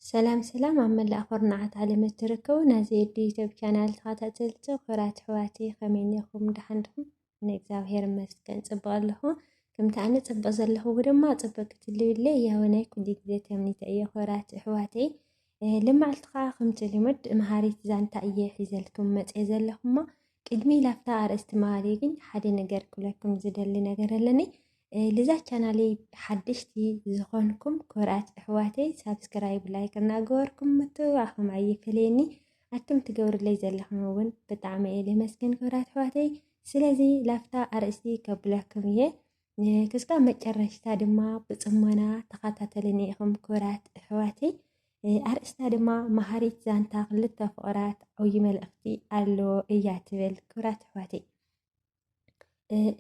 ሰላም ሰላም ኣብ መላእ ኩርናዓት ዓለም እትርከቡ ናዚ ኤዲ ዩቲዩብ ቻናል ተኸታተልቲ ኩራት ኣሕዋቲ ከመይ እኒኹም ደሓን ድኹም? ኣነ እግዚኣብሄር ይመስገን ፅቡቕ ኣለኹ። ከምቲ ኣነ ፅቡቕ ዘለኹዎ ድማ ፅቡቕ ክትልዩለይ ያወናይ ኩሉ ግዜ ተምኒተ እየ ኩራት ኣሕዋተይ። ልማዕልቲ ከዓ ከምቲ ልምድ መሃሪት ዛንታ እየ ሒዘልክም መፀ ዘለኹማ ቅድሚ ላፍታ ኣርእስቲ መሃሪ ግን ሓደ ነገር ክብለኩም ዝደሊ ነገር ኣለኒ ልዛ ቻናለይ ሓደሽቲ ዝኾንኩም ኮርኣት ኣሕዋተይ ሳብስክራይብ ላይክ እናገበርኩም ምትብባዕኹም ኣይፈለየኒ ኣቱም ትገብርለይ ዘለኹም እውን ብጣዕሚ እየ ልመስገን ኮርኣት ኣሕዋተይ ስለዚ ላፍታ ኣርእስቲ ከብለኩም እየ ክስካብ መጨረሽታ ድማ ብፅሞና ተኸታተልኒ ኢኹም ክብራት እሕዋተይ ኣርእስታ ድማ መሃሪት ዛንታ ክልተ ፍቕራት ዓብዪ መልእኽቲ ኣለዎ እያ ትብል ክብራት እሕዋተይ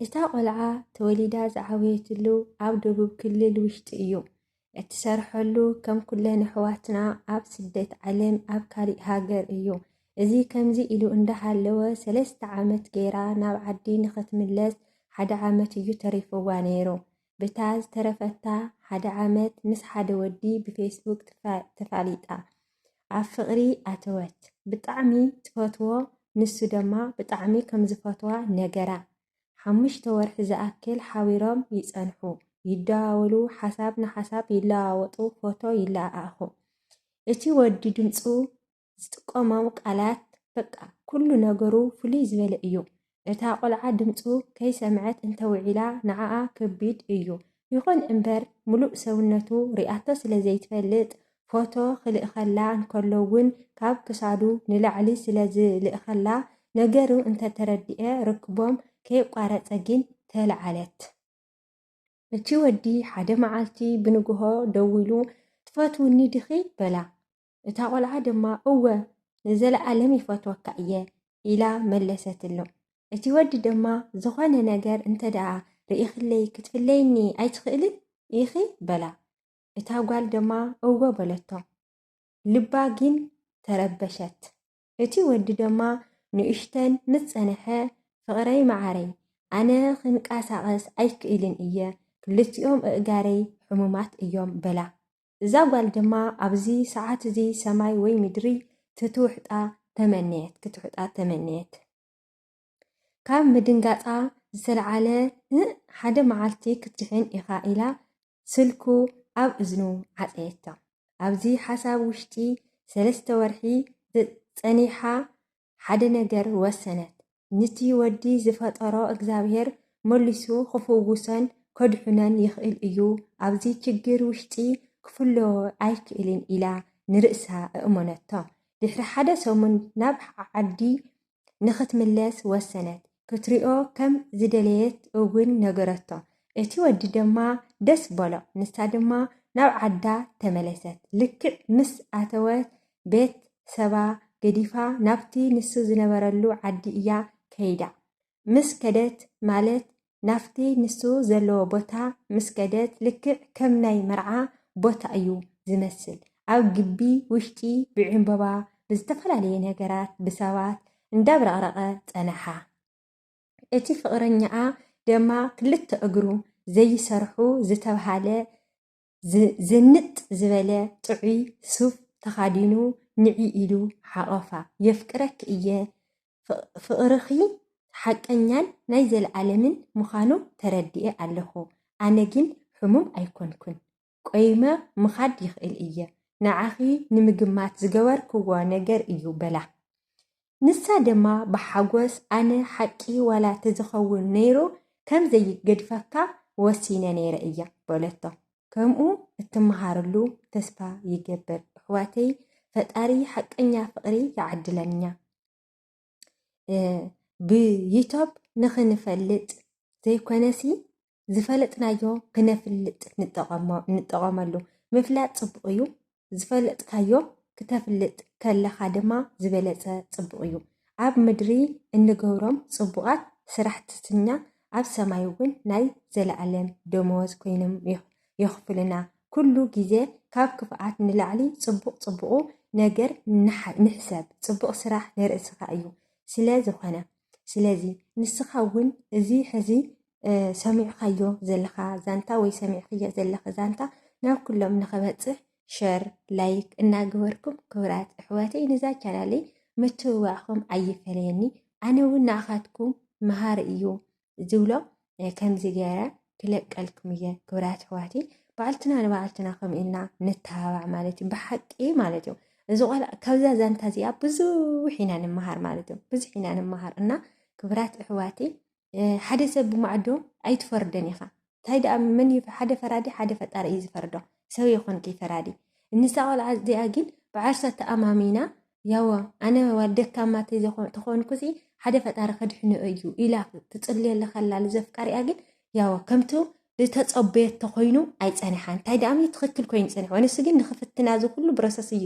እታ ቆልዓ ተወሊዳ ዝዓበየትሉ ኣብ ደቡብ ክልል ውሽጢ እዩ እትሰርሐሉ ከም ኩለን ኣሕዋትና ኣብ ስደት ዓለም ኣብ ካሊእ ሃገር እዩ። እዚ ከምዚ ኢሉ እንዳሃለወ ሰለስተ ዓመት ገይራ ናብ ዓዲ ንኽትምለስ ሓደ ዓመት እዩ ተሪፍዋ ነይሩ። ብታ ዝተረፈታ ሓደ ዓመት ምስ ሓደ ወዲ ብፌስቡክ ተፋሊጣ ኣብ ፍቕሪ ኣተወት። ብጣዕሚ ትፈትዎ ንሱ ድማ ብጣዕሚ ከምዝፈትዋ ነገራ። ሓሙሽተ ወርሒ ዝኣክል ሓቢሮም ይጸንሑ፣ ይደዋወሉ፣ ሓሳብ ንሓሳብ ይለዋወጡ፣ ፎቶ ይለኣኣኹ። እቲ ወዲ ድምጹ፣ ዝጥቀሞም ቃላት፣ በቃ ኩሉ ነገሩ ፍልይ ዝበለ እዩ። እታ ቆልዓ ድምጹ ከይሰምዐት እንተ ውዒላ ንዓኣ ከቢድ እዩ። ይኹን እምበር ምሉእ ሰውነቱ ሪኣቶ ስለ ዘይትፈልጥ ፎቶ ክልእኸላ እንከሎ ውን ካብ ክሳዱ ንላዕሊ ስለ ዝልእኸላ ነገሩ እንተተረድኤ ርክቦም ከየቋረጸ ግን ተላዓለት። እቲ ወዲ ሓደ መዓልቲ ብንግሆ ደዊሉ ትፈትውኒ ዲኺ? በላ። እታ ቆልዓ ድማ እወ ንዘለኣለም ይፈትወካ እየ ኢላ መለሰትሉ። እቲ ወዲ ድማ ዝኾነ ነገር እንተደኣ ርኢኽለይ ክትፍለይኒ ኣይትኽእልን ኢኺ? በላ። እታ ጓል ደማ እወ በለቶ። ልባ ጊን ተረበሸት። እቲ ወዲ ደማ ንእሽተን ምስ ጸነሐ ፍቕረይ መዓረይ ኣነ ክንቃሳቐስ ኣይክእልን እየ ክልቲኦም እእጋረይ ሕሙማት እዮም በላ። እዛ ጓል ደማ ኣብዚ ሰዓት እዚ ሰማይ ወይ ምድሪ ትትውሕጣ ተመነየት ክትውሕጣ ተመነየት። ካብ ምድንጋጻ ዝተልዓለ ን ሓደ መዓልቲ ክትድሕን ኢኻ ኢላ ስልኩ ኣብ እዝኑ ዓጸየቶ። ኣብዚ ሓሳብ ውሽጢ ሰለስተ ወርሒ ጸኒሓ ሓደ ነገር ወሰነት። ንቲ ወዲ ዝፈጠሮ እግዚኣብሄር መሊሱ ክፍውሶን ከድሕኖን ይኽእል እዩ፣ ኣብዚ ችግር ውሽጢ ክፍሎ ኣይክእልን ኢላ ንርእሳ እእመነቶ። ድሕሪ ሓደ ሰሙን ናብ ዓዲ ንኽትምለስ ወሰነት። ክትሪኦ ከም ዝደለየት እውን ነገረቶ። እቲ ወዲ ድማ ደስ በሎ። ንሳ ድማ ናብ ዓዳ ተመለሰት። ልክዕ ምስ ኣተወት ቤት ሰባ ገዲፋ ናብቲ ንሱ ዝነበረሉ ዓዲ እያ ከይዳ። ምስ ከደት ማለት ናብቲ ንሱ ዘለዎ ቦታ ምስ ከደት ልክዕ ከም ናይ መርዓ ቦታ እዩ ዝመስል ኣብ ግቢ ውሽጢ ብዕምበባ ብዝተፈላለየ ነገራት ብሰባት እንዳብረቕረቐ ጸነሓ። እቲ ፍቕረኛኣ ደማ ክልተ እግሩ ዘይሰርሑ ዝተብሃለ ዝንጥ ዝበለ ጥዑይ ሱፍ ተኻዲኑ ንዒ ኢሉ ሓቖፋ። የፍቅረኪ እየ፣ ፍቕርኺ ሓቀኛን ናይ ዘለኣለምን ምዃኑ ተረዲኤ ኣለኹ፣ ኣነ ግን ሕሙም ኣይኮንኩን፣ ቆይመ ምኻድ ይኽእል እየ፣ ንዓኺ ንምግማት ዝገበርክዎ ነገር እዩ በላ። ንሳ ደማ ብሓጎስ ኣነ ሓቂ ዋላ ተዝኸውን ነይሩ ከም ዘይገድፈካ ወሲነ ነይረ እያ በለቶ ከምኡ እትመሃርሉ ተስፋ ይገብር እሕዋተይ ፈጣሪ ሓቀኛ ፍቅሪ ይዓድለኛ ብዩቶብ ንክንፈልጥ ዘይኮነሲ ዝፈለጥናዮ ክነፍልጥ ንጠቐመሉ ምፍላጥ ፅቡቕ እዩ ዝፈለጥካዮ ክተፍልጥ ከለኻ ድማ ዝበለፀ ፅቡቕ እዩ ኣብ ምድሪ እንገብሮም ፅቡቓት ስራሕትትና ኣብ ሰማይ እውን ናይ ዘለኣለም ደመወዝ ኮይኖም የኽፍሉና ኩሉ ግዜ ካብ ክፍኣት ንላዕሊ ፅቡቕ ፅቡቑ ነገር ንሕሰብ ፅቡቕ ስራሕ ንርእስኻ እዩ ስለ ዝኾነ ስለዚ ንስኻ እውን እዚ ሕዚ ሰሚዕኻዮ ዘለኻ ዛንታ ወይ ሰሚዕኽዮ ዘለኺ ዛንታ ናብ ኩሎም ንኽበፅሕ ሸር ላይክ እናገበርኩም ክብራት እሕዋተይ ንዛ ቻናለይ ምትብባዕኹም ኣይፈለየኒ ኣነ እውን ንኣኻትኩም መሃሪ እዩ ዝብሎ ከምዚ ገይረ ክለቀልኩም እየ ክብራት ኣሕዋቲ በዓልትና ንበዓልትና ከምኡ ኢልና ንተባባዕ ማለት እዩ ብሓቂ ማለት እዩ እዚ ቆልዓ ካብዛ ዛንታ እዚኣ ብዙሕ ኢና ንምሃር ማለት እዩ ብዙሕ ኢና ንምሃር እና ክብራት ኣሕዋቲ ሓደ ሰብ ብማዕዶ ኣይትፈርደን ኢኻ እንታይ ደኣ መን ሓደ ፈራዲ ሓደ ፈጣሪ እዩ ዝፈርዶ ሰብ የኾንኪ ፈራዲ ንሳ ቆልዓ እዚኣ ግን ብዓርሳ ተኣማሚና ያወ ኣነ ደካማ ተኾንኩሲ ሓደ ፈጣሪ ከድሕንኦ እዩ ኢላ ትፅልየለ ከላ ዘፍቃሪኣ ግን ያወ ከምቱ ዝተፀበየት ተኮይኑ ኣይፀንሓን እንታይ ደኣ ትኽክል ኮይኑ ፀኒሖ ንሱ ግን ንክፍትና እዚ ኩሉ ብረሰስ እዩ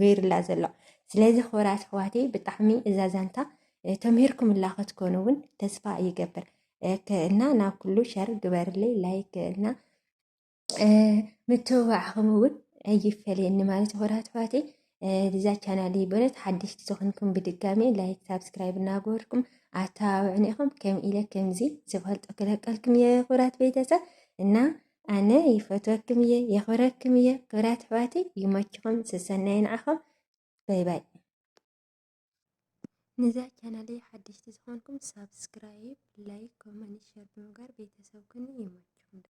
ገይርላ ዘሎ ስለዚ ክብራት ኣሕዋቴ ብጣዕሚ እዛ ዛንታ ተምሂርኩም ላኸትኮኑ እውን ተስፋ ይገብር እና ናብ ኩሉ ሸር ግበርለይ ላይክ እና ምትብባዕኹም እውን ኣይፈለየኒ ማለት ሆራት ኣሕዋተይ እዛ ቻናል በነት ሓደሽቲ ዝኾንኩም ብድጋሚ ላይክ ሳብስክራይብ እናገበርኩም ኣተባብዕኒ ኢኹም ከም ኢለ ከምዚ ዝፈልጦ ክለቀልኩም እየ ክብራት ቤተሰብ እና ኣነ ይፈትወኩም እየ የኽብረኩም እየ ክብራት ኣሕዋተይ ይመችኹም ስሰናይ ንዓኹም ባይ ባይ ነዛ ቻናለይ ሓደሽቲ ዝኾንኩም ሳብስክራይብ ላይክ ኮመንት ሸር ብምግባር ቤተሰብ ኩኑ ይመችኹም